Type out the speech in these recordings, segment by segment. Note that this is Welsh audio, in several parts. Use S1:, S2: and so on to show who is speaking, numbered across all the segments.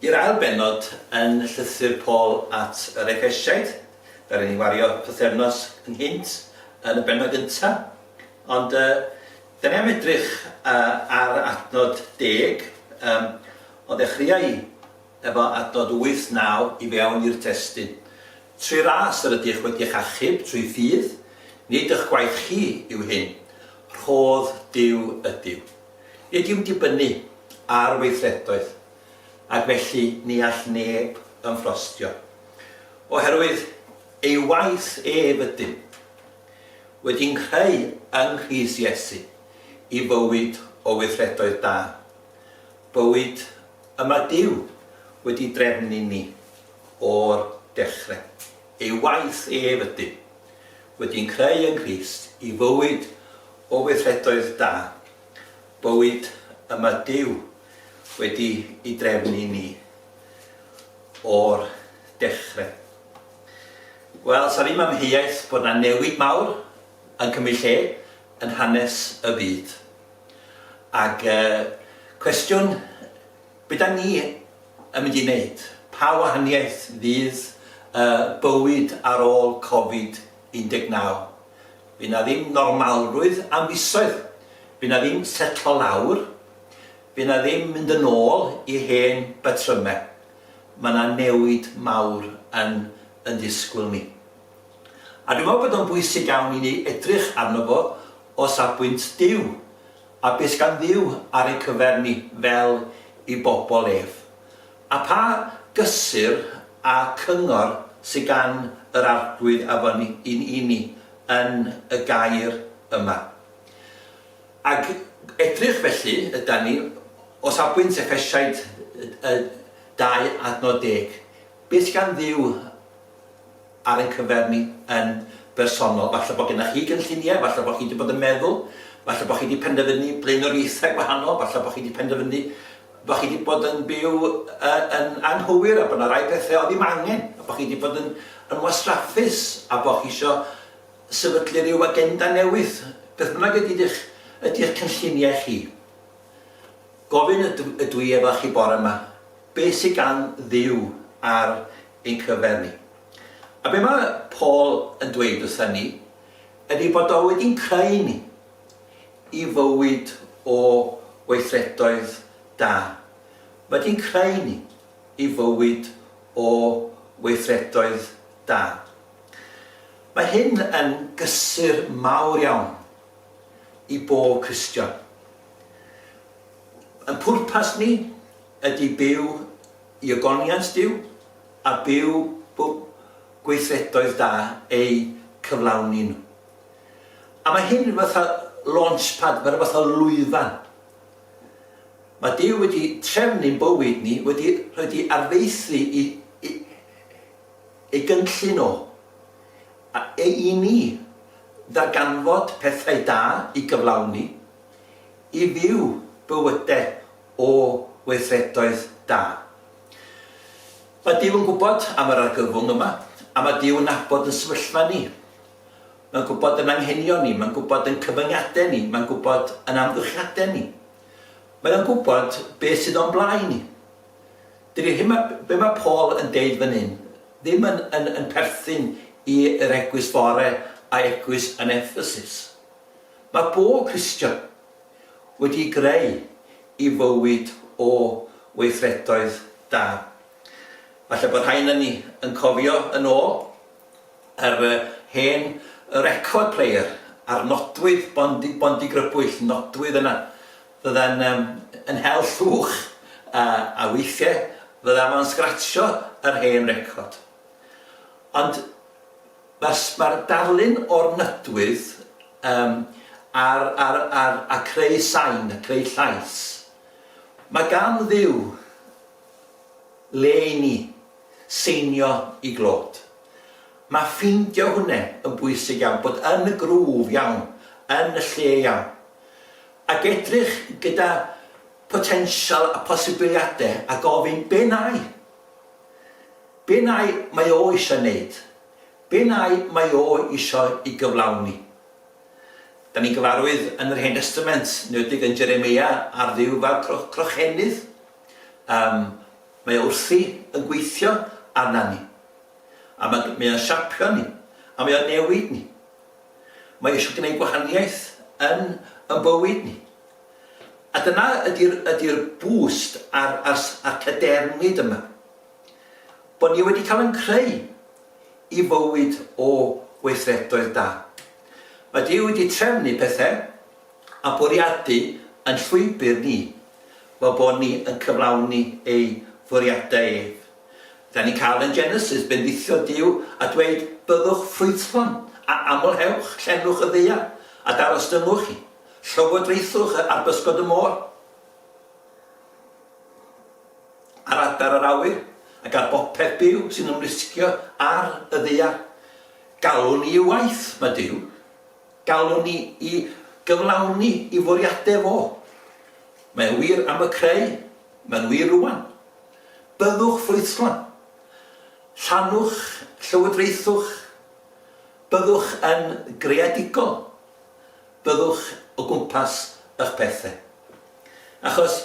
S1: I'r ail bennod yn Llythyr Paul at yr Efesiaid. Ddaru ni wario pythefnos ynghynt yn y bennod gynta', ond yy 'da ni am edrych yy ar adnod deg, yym o ddechreuai efo adnod wyth, naw i fewn i'r testun. Trwy ras yr ydych wedi'ch achub trwy ffydd, nid ych gwaith chi yw hyn, rhodd Duw ydyw. Nid yw'n dibynnu ar weithredoedd. ac felly ni all neb ymffrostio. Oherwydd ei waith ef ydym wedi nghreu yng Nghrist Iesu i fywyd o weithredoedd da, bywyd y mae Duw wedi drefn i ni o'r dechrau. Ei waith ef ydym wedi nghreu yng Nghrist i fywyd o weithredoedd da, Bywyd y mae Duw wedi i drefnu i ni o'r dechre. Wel, sa ddim amheuaeth bod na newid mawr yn cymryd lle yn hanes y byd. Ag y cwestiwn be da ni yn mynd i neud? Pa wahaniaeth fydd y bywyd ar ôl Covid 19? By' 'na ddim normalrwydd am fisoedd. By' 'na ddim setlo lawr. By' 'na ddim mynd yn ôl i hen batryme. Ma' 'na newid mawr yn yn disgwyl ni. A dwi me'wl bod o'n bwysig iawn i ni edrych arno fo o safbwynt Duw, a be' sgan Dduw ar ei cyfer ni fel 'i bobol ef. A pha gysur a cyngor sy gan yr Arglwydd afon yn i ni yn y gair yma? Ag edrych felly ydan ni, o safbwynt Effesiaid y 2 adnod deg, beth sy gan Dduw ar ein cyfer ni yn bersonol. Falle bod gennych chi gynlluniau, falle bod chi wedi bod yn meddwl, falle bod chi wedi penderfynu blaenoriaethau gwahanol, falle bod chi wedi penderfynu bod chi wedi bod yn byw yn anghywir a bod yna rai pethau oedd ddim angen, a bod chi wedi bod yn, yn wastraffus a bod chi eisiau sefydlu rhyw agenda newydd. Beth bynnag ydy eich, ydy eich cynlluniau chi. Gofyn ydw, ydw i efo chi bore yma, beth sydd gan ddiw ar ein cyfer ni. A be mae Paul yn dweud wrthyn ni ydy bod o wedi'n creu ni i fywyd o weithredoedd da. Mae wedi'n creu ni i fywyd o weithredoedd da. Mae hyn yn gysur mawr iawn i bob Cristion. Yn pwrpas ni ydy byw I ogoniant Duw, a byw bu gweithredoedd da eu cyflawni nhw. A mae hyn rhywbeth fel launchpad, mae rhywbeth fel lwyfan. Mae Duw wedi trefn i'n bywyd ni, wedi rhoi di arfaethu i, i, ei gynllun o, a e i ni ddarganfod pethau da i gyflawni, i fyw bywydau o weithredoedd da. Mae Duw yn gwybod am yr argyfwng yma, a mae Duw yn nabod yn sefyllfa ni. Mae'n gwybod yn anghenion ni, mae'n gwybod yn cyfyngiadau ni, mae'n gwybod yn amgylchiadau ni. Mae o'n gwybod beth sydd o'n blaen ni. Dydy hyn ma, be mae Paul yn deud fan hyn, ddim yn, yn, yn perthyn i'r egwys fore a egwys yn Ephesus. Mae bob Cristion, wedi'i greu i fywyd o weithredoedd da. Falle bod rhai ynon ni yn cofio yn ôl yr hen record player a'r nodwydd bondi, bondi grybwyll, nodwydd yna. Fydda'n um, yn hel llwch a, a weithiau fydda fo'n sgratsio yr hen record. Ond Mae'r mae'r darlun o'r nydwydd yym a'r a'r a'r a creu sain a creu llais. Mae gan Dduw le i ni seinio i glod. Mae ffeindio hwnne yn bwysig iawn, bod yn y grŵf iawn, yn y lle iawn. Ac edrych gyda potensial a posibiliade a gofyn, be' 'nai? Be nai mae o isio neud? Be nai mae o isio i gyflawni? Da ni'n gyfarwydd yn yr Hen Destament, enwedig yn Jeremia, ar Dduw fel cro- crochennydd. Yym, mae o wrthi yn gweithio arna ni. A ma' mae o'n siapio ni, a mae o'n newid ni. Mae eisiau gwneud gwahaniaeth yn yn bywyd ni. A dyna ydy'r ydy'r boost a'r a'r a'r cadernid yma. Bod ni wedi cael yn creu i fywyd o weithredoedd da. Mae Duw wedi trefnu pethau a bwriadu yn llwybr ni fel bod ni yn cyflawni ei fwriadau ef. Da ni'n cael yn Genesis bendithio Duw a dweud byddwch ffrwythlon a amlhewch, llenwch y ddaear a darostyngwch hi. Llywodraethwch y ar bysgod y môr, ar adar yr awyr, ac ar bopeth byw sy'n ymlusgio ar y ddaear. Galwn ni i waith, mae Duw. Galwn ni i gyflawni i fwriadau fo. Mae'n wir am y creu, mae'n wir rwan. Byddwch ffrwythlon. Llanwch llywodraethwch. Byddwch yn greadigol. Byddwch o gwmpas ych pethe. Achos,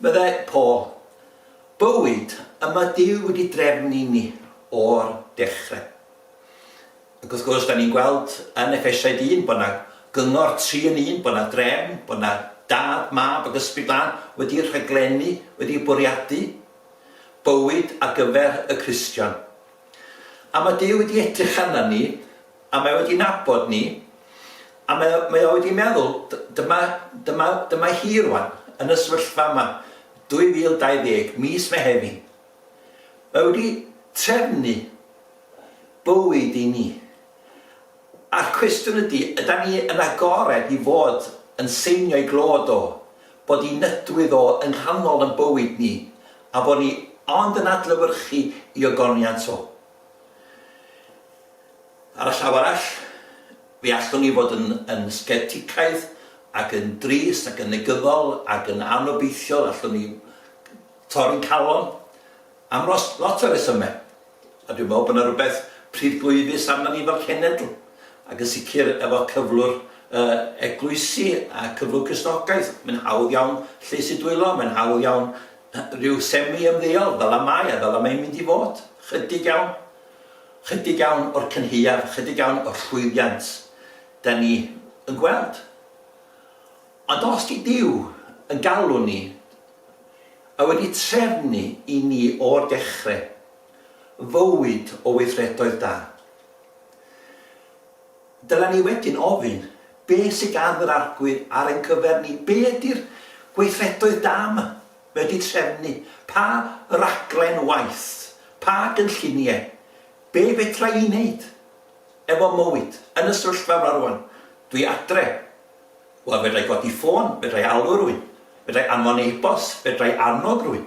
S1: meddai Paul, bywyd y mae Duw wedi drefn i ni o'r dechrau. Ac wrth gwrs, da ni'n gweld yn Effesiaid 1 bod yna gyngor tri yn un, bod yna drefn, bod yna dad, mab ac ysbryd glân wedi rhaglennu, wedi bwriadu bywyd ar gyfer y Cristion. A mae Duw wedi edrych arna ni A mae wedi nabod ni, a mae o, mae o wedi meddwl, dyma, dyma, dyma hi rwan, yn y sefyllfa yma, 2020, mis Mehefin. Mae wedi trefnu bywyd i ni. A'r cwestiwn ydy, yda ni yn agored i fod yn seinio i glod o, bod i nydwydd o yn rhannol yn bywyd ni, a bod ni ond yn adlewyrchu i ogoniant o? Ar y llaw arall, fe allwn ni fod yn yn scepticaidd ac yn drist ac yn negyddol ac yn anobeithiol, allwn ni torri'n calon am ros, lot o resymau. A dwi'n meddwl bod yna rhywbeth pridglwyfus arna ni fel cenedl, ac yn sicr efo cyflwr y eglwysi a cyflwr Cristnogaeth. Mae'n hawdd iawn llys i dwylo, mae'n hawdd iawn rhyw semi-ymddeol, fel y mae a fel y mae'n mynd i fod, chydig iawn. Chydig iawn o'r cynhaeaf, chydig iawn o'r llwyddiant da ni yn gweld. Ond os di Duw yn galw ni, a wedi trefnu i ni o'r dechrau, fywyd o weithredoedd da, dylen ni wedyn ofyn, be sy gan yr Arglwydd ar ein cyfer ni? Be ydi'r gweithredoedd da 'ma? wedi trefnu, pa raglen waith, pa gynlluniau, be fedra i wneud efo mywyd yn y sefyllfa yma rŵan, dwi adre, wel fedra i godi ffôn, fedra i alw rywun, fedra i anfon e-bost, fedra i annog rywun,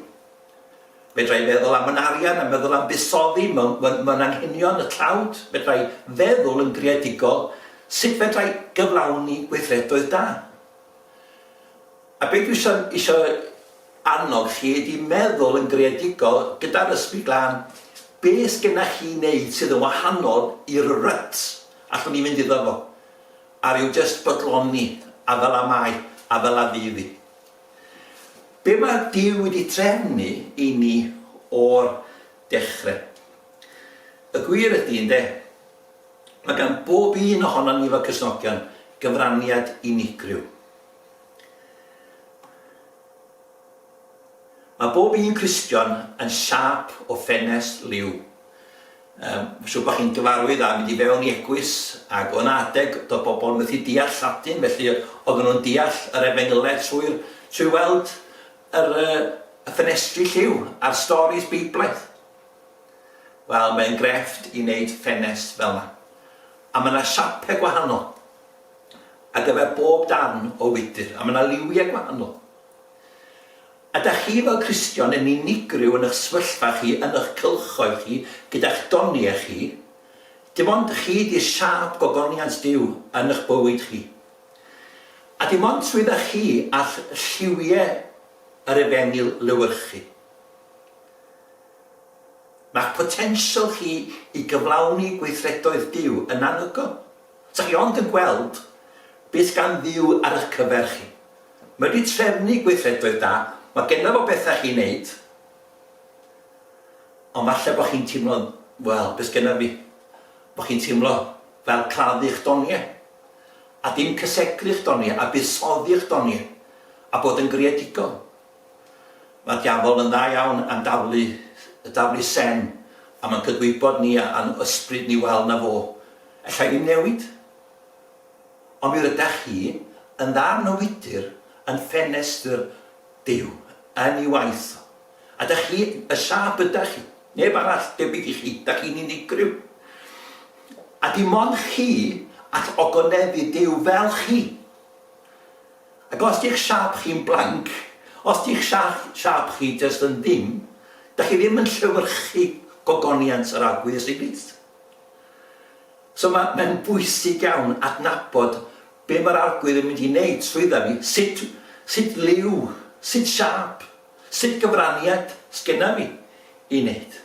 S1: fedra i feddwl am yn arian a meddwl am buddsoddi mewn, mewn, mewn anghenion y tlawd, fedra i feddwl yn greadigol sut fedra i gyflawni gweithredoedd da. A beth dwi isio isio annog chi ydi meddwl yn greadigol gyda'r Ysbryd Glân, be' sgenna chi i neud sydd yn wahanol i'r rut allwn ni fynd iddo fo, a ryw jyst bodloni, a fel 'a mae, a fel 'a fydd 'i. Be' ma' Duw wedi trefnu i ni o'r dechre? Y gwir ydi, ynde, ma' gan bob un ohonon ni fel Cristnogion gyfraniad unigryw. Mae bob un Cristion yn siâp o ffenest liw. Yym, ma' siŵr bo' chi'n gyfarwydd â mynd i fewn i egwys, ag o' 'na adeg do'dd bobol yn mythu deall Lladin, felly odden nw'n deall yr Efengylau trwy'r trwy weld yr yy y ffenestri lliw a'r storis Beiblaidd. Wel, mae'n grefft i neud ffenest fel 'na. A ma' 'na siape gwahanol. ar gyfer bob darn o wydr, a mae yna liwiau gwahanol. Ydych chi fel Cristion yn unigryw yn eich sefyllfa chi, yn eich cylchoedd chi, gyda'ch doniau chi? Dim ond chi ydy'r siâp gogoniant Duw yn eich bywyd chi. A dim ond trwydda chi all lliwiau yr efengyl lewyrchu. Mae'ch potensial chi i gyflawni gweithredoedd Duw yn anhygoel. Dach chi ond yn gweld beth gan Dduw ar eich cyfer chi. Mae wedi trefnu gweithredoedd da, mae genna fo bethau i chi wneud, ond falle bod chi'n teimlo, wel, beth sgenna fi? Bod chi'n teimlo fel claddu eich doniau, a dim cysegru eich doniau, a buddsoddi eich doniau, a bod yn greadigol. Mae diafol yn dda iawn am daflu y daflu sen am yn cydwybod ni a a'n ysbryd ni wel na fo ellai ddim newid. Ond mi rydach chi yn ddarn o wydr yn ffenestr Duw yn ei waith o. A dach chi, y siâp ydach chi, neb arall debyg i chi, dach chi'n unigryw. A dim ond chi all ogoneddu Duw fel chi. Ac os di'ch siâp chi'n blanc, os di'ch siâp chi jyst yn ddim, dach chi ddim yn llewyrchu gogoniant yr aqueous liquids. So mae, mae'n bwysig iawn adnabod be mae'r arglwydd yn mynd i wneud trwydda fi, sut, sut liw, sut siâp, sut gyfraniad sgynna fi i wneud.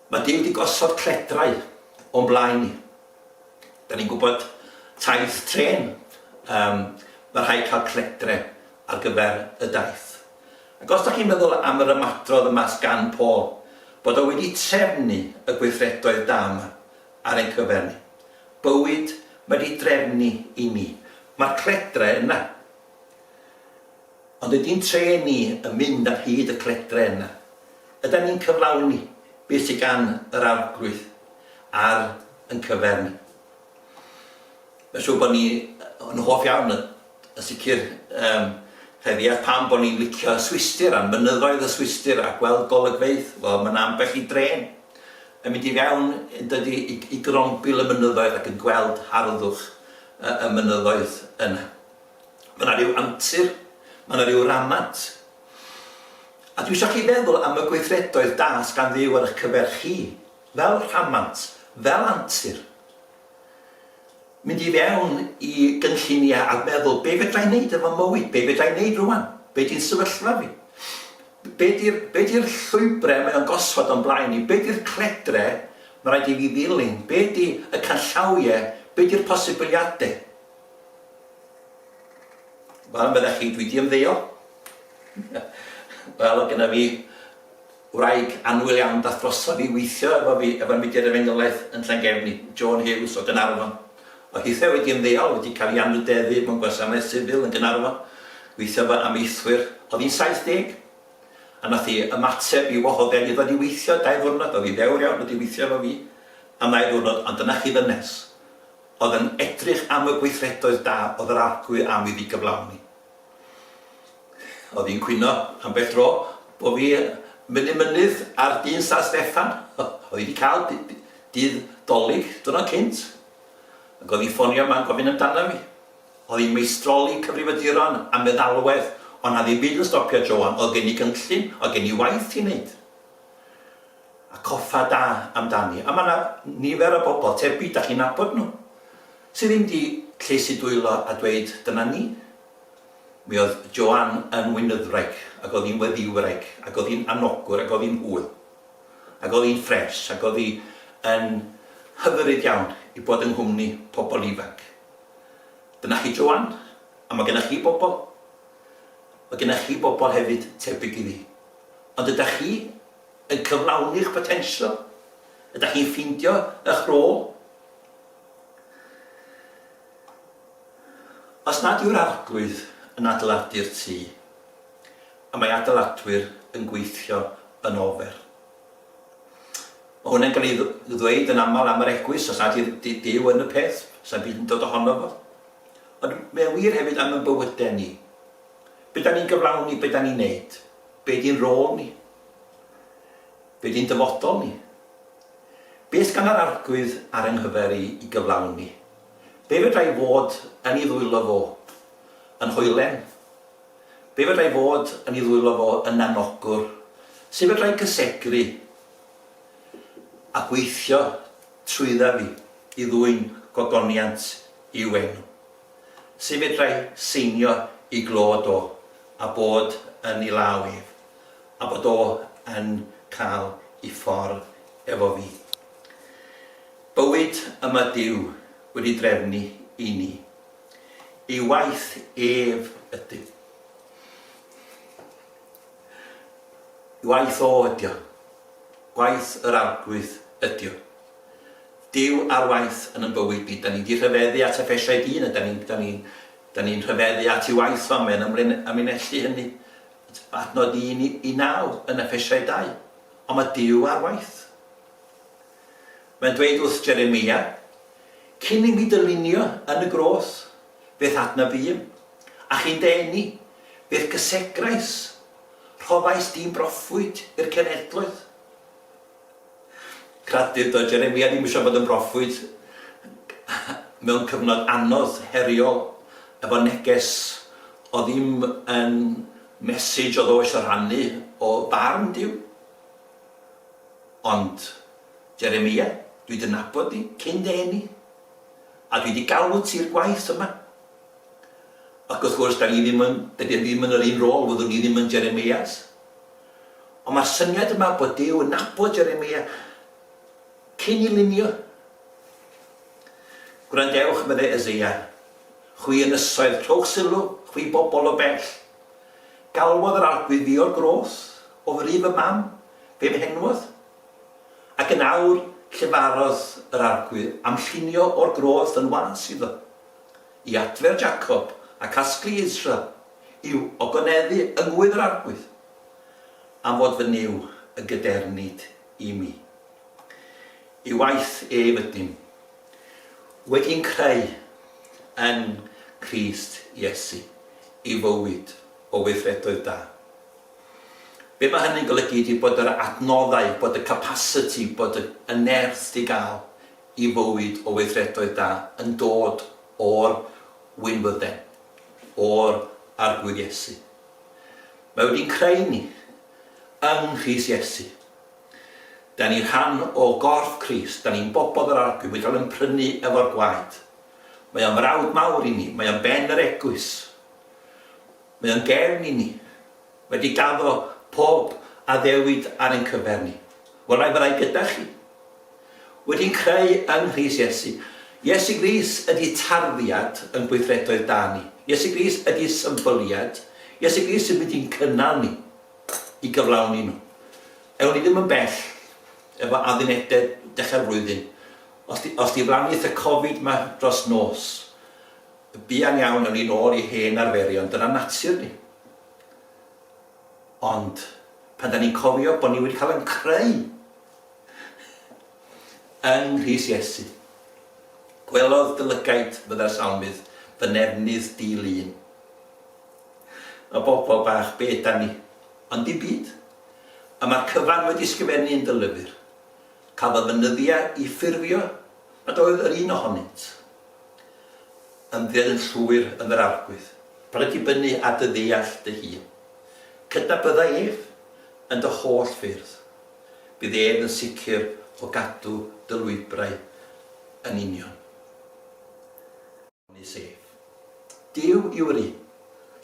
S1: Mae Duw wedi gosod cledrau o'n blaen ni. Da ni'n gwybod taith trên, yym, ma' rhaid cael cletre ar gyfer y daith. Ac os da chi'n meddwl am yr ymadrodd yma sgan Paul, bod o wedi trefnu y gweithredoedd da yma ar ein cyfer ni. Bywyd mae di drefnu i ni. Mae'r cletre yna. Ond ydy'n trên ni yn mynd ar hyd y cledren yna? Ydan ni'n cyflawni beth sydd gan yr Arglwydd ar yn cyfer ni? Mae'n siŵr bod ni yn hoff iawn yn sicr um, heddi a pam bod ni'n licio Swistir a mynyddoedd y Swistir a gweld golygfeydd, wel mae'n ambell i dren yn mynd i fewn yn dydy i, i grombil y mynyddoedd ac yn gweld harddwch y, y mynyddoedd yna. Mae 'na ryw antur, mae 'na ryw ramant. A dwi isio chi feddwl am y gweithredoedd da sy gan Dduw ar 'ych cyfer chi, fel rhamant, fel antur. Mynd i fewn i gynlluniau a meddwl, be fedra i wneud efo mywyd? Be fedra i wneud rwan? Be di'n sefyllfa fi? Be di'r be di'r llwybrau mae o'n gosod o'n blaen i? Be di'r cledre mae rhaid i fi ddilyn? Be di y canllawiau? Be di'r posibiliadau? Wel, meddech chi, dwi di ymddeol. Wel, oedd gyda fi wraig anwyl iawn dath drosodd i weithio efo fi, efo'r mudiad efengylaeth yn Llangefni, Joan Hughes o Gaernarfon. Oedd hithe wedi ymddeol, wedi cael ei anrhydeddu mewn gwasanaeth sifil yn Gaernarfon, gweithio fel amaethwyr. Oedd hi'n 70, a nath hi ymateb i wahoddiad i ddod i weithio dau ddiwrnod, oedd hi ddewr iawn wedi weithio efo fi am ddau ddiwrnod, ond dyna chi ddynes. oedd yn edrych am y gweithredoedd da oedd yr arglwydd am iddi gyflawni. Oedd hi'n cwyno ambell dro bod fi mynd i mynydd ar dyn San Steffan. Oedd hi wedi cael dydd dolig dyna cynt. Ac oedd hi'n ffonio yma'n gofyn amdana fi. Oedd hi'n meistroli cyfrifaduron a meddalwedd, ond na ddim byd yn stopio Joan, oedd gen i gynllun, oedd gen i waith i wneud. a coffa da amdani, a mae yna nifer o bobl tebyg, dach chi'n nabod nhw, sydd ddim di llesu dwylo a dweud dyna ni. Mi oedd Joan yn Wynydwraig, ac oedd hi'n Weddiwraig, ac oedd hi'n anogwr, ac oedd hi'n hwyl, ac oedd hi'n ffres, ac oedd hi yn hyfyryd iawn i bod yng nghwmni pobl ifanc. Dyna chi Joan, a mae gennych chi bobl, mae gennych chi bobl hefyd tebyg iddi, ond ydach chi yn cyflawni'ch potensial? Ydach chi'n ffeindio eich rôl? Os nad yw'r Arglwydd yn adeiladu'r tŷ, y mae adeiladwyr yn gweithio yn ofer. Mae hwn yn cael ei ddweud yn aml am yr Eglwys, os nad yw'r Duw yn y peth, sa'n byd yn dod ohono fo. Ond mae'n wir hefyd am y bywydau ni. Be da ni'n gyflawni, be da ni'n neud? Be di'n rôl ni? Be di'n dyfodol ni? Beth gan yr Arglwydd ar ein nghyfer i i gyflawni? Be fedra i fod yn i ddwylo fo yn hoelen? Be fedra i fod yn i ddwylo fo yn anogwr? Sut fedra i gysegru a gweithio trwydda fi i ddwyn gogoniant i'w enw? Sut fedra i seinio i glod o a bod yn ei law ef, a bod o yn cael ei ffordd efo fi? Bywyd y mae Duw wedi drefnu i ni. Ei waith ef ydy. Ei waith o ydy o. Gwaith yr Arglwydd ydy o. Duw ar waith yn yn bywyd ni. Da ni di rhyfeddu at effesiau dyn a da ni'n da ni'n da ni'n rhyfeddu at i waith o a mae'n ymlen amlinellu hynny adnod un i, i naw yn effesiau dau. Ond mae Duw ar waith. Mae'n dweud wrth Jeremia, cyn i mi dylunio yn y groth, beth adna fîm, a chi'n dy eni, beth gysegrais, rhoddais di'n broffwyd i'r cenhedloedd. Credir doedd Jeremia ddim eisiau bod yn broffwyd mewn cyfnod anodd, heriol, efo neges oedd ddim yn message oedd o eisiau rhannu o farn Duw. Ond Jeremia, dwi dy nabod di cyn dy eni, a dwi di galw ti i'r gwaith yma. Ac wrth gwrs, da ni ddim yn, dydy e ddim yn yr un rôl, fyddwn ni ddim yn Jeremias. Ond mae'r syniad yma bod Duw yn nabod Jeremia cyn i lunio. Gwrandewch, meddai Eseia, chwi ynysoedd, rhowch sylw, chwi bobl o bell. Galwodd yr Arglwydd fi o'r groth, o fri fy mam, fe mhenwodd. Ac yn awr, llefarodd yr Arglwydd am llunio o'r groth yn was iddo, i adfer Jacob a casglu Israel yw ogoneddu yng ngŵydd yr arglwydd, am fod fy Nuw yn gydernid i mi. I waith ef ydym wedi'n creu yng Nghrist Iesu i fywyd o weithredoedd da. Be mae hynny'n golygu ydy bod yr adnoddau, bod y capasiti, bod y y nerth di gael i fywyd o weithredoedd da yn dod o'r winfydden. o'r Arglwydd Iesu. Mae wedi creu ni yng Nghrist Iesu. Da ni rhan o gorff Crist, da ni'n bobl yr Arglwydd, mae cael yn prynu efo'r gwaed. Mae o'n frawd mawr i ni, mae o'n ben yr eglwys. Mae o'n gefn i ni. Wedi gaddo pob addewid ar ein cyfer ni. Welai fyddai gyda chi. Wedi'n creu yng Nghrist Iesu. Iesu Gris ydi tarddiad yn gweithredoedd da ni. Iesu Gris ydi symbyliad. Iesu Gris sy'n mynd i'n cynnal ni i gyflawni nhw. Ewn ni ddim yn bell efo addunededd dechrau'r flwyddyn. Os di, os di flaniaeth y Covid ma dros nos, buan iawn ewn ni nôl i hen arferion. Dyna natur ni. Ond pan 'dan ni'n cofio bod ni wedi cael ein creu yng nghrys Iesu, gwelodd dy lygaid, fydda'r salmydd, fy nefnydd di-lun. Y bobl bach, be ydan ni? Ond dim byd. Y mae'r cyfan wedi ysgrifennu yn dy lyfr. Cafodd fy nyddiau i ffurfio nad oedd yr un ohonynt Ymddeol yn llwyr yn yr arglwydd. Paid dibynnu ar dy ddeall dy hun. Cydnabydda ef yn dy holl ffyrdd. Bydd ef yn sicr o gadw dy lwybrau yn union. Onys ef. Duw yw'r un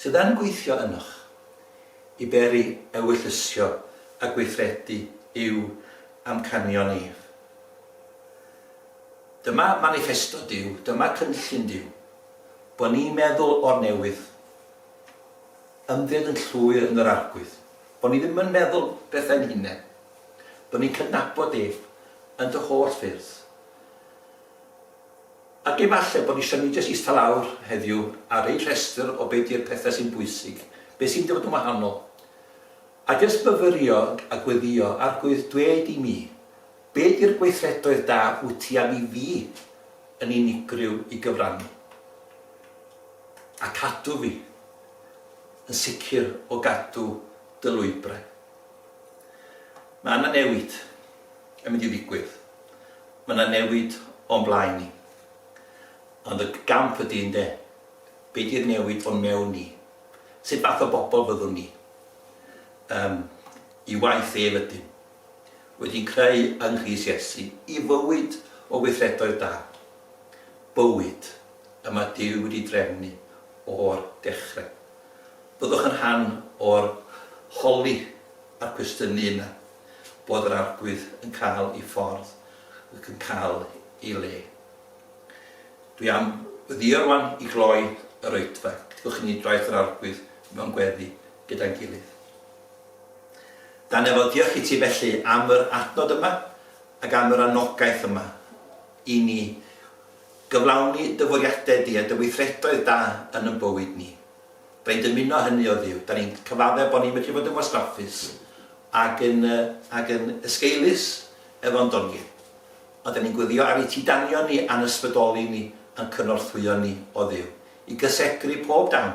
S1: sydd yn gweithio ynoch i beri ewyllysio a gweithredu yw amcanion ef. Dyma maniffesto Duw, dyma cynllun Duw, bod ni'n meddwl o'r newydd, ymddiried yn llwyr yn yr arglwydd, bod ni ddim yn meddwl bethau'n hunain, bod ni'n cydnabod ef yn dy holl ffyrdd. Ac efallai bod eisiau ni jyst eistedd lawr heddiw a rhoi rhestr o be di'r pethau sy'n bwysig, be sy'n dod yn wahanol, a jyst myfyrio a gweddïo, Arglwydd, dweud i mi, Be ydy'r gweithredoedd da wyt ti am i fi yn unigryw i gyfrannu a cadw fi yn sicr o gadw dy lwybrau? Mae yna newid yn mynd i ddigwydd, mae yna newid o'n blaen ni. Ond y gamp ydy ynde, be ydy'r newid o'n mewn ni? Sut fath o bobl fyddwn ni? Yym, i waith ef ydym. wedi creu yng Nghrist Iesu i fywyd o weithredoedd da, bywyd y mae Duw wedi drefnu o'r dechrau. Byddwch yn rhan o'r holi a'r cwestiynu yna bod yr Arglwydd yn cael ei ffordd ac yn cael ei le. Dwi am weddïo rwan i gloi yr oedfa. Gwnewch i ni draeth yr Arglwydd mewn gweddi. gyda'n gilydd. Dan efo diolch i ti felly am yr adnod yma ac am yr anogaeth yma i ni gyflawni dy fwriadau di a dy weithredoedd da yn yn bywyd ni. Da ni'n dymuno hynny o Dduw. Da ni'n cyfaddef bod ni'n medru bod yn wastraffus ac yn, ac yn esgeulus efo'n doniau. Ond da ni'n gweddio ar i ti danio ni a'n ysbrydoli ni a'n cynorthwyo ni o Dduw i gysegru pob dawn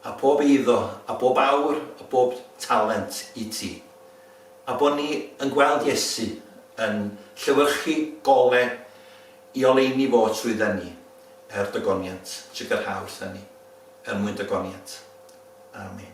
S1: A phob eiddo, a bob awr, a bob talent i ti. A bo ni yn gweld Iesu yn llewyrchu gole i oleuni fo trwydda ni, er dy goniant, trigyrha wrtha ni, er mwyn dy goniant. Amen.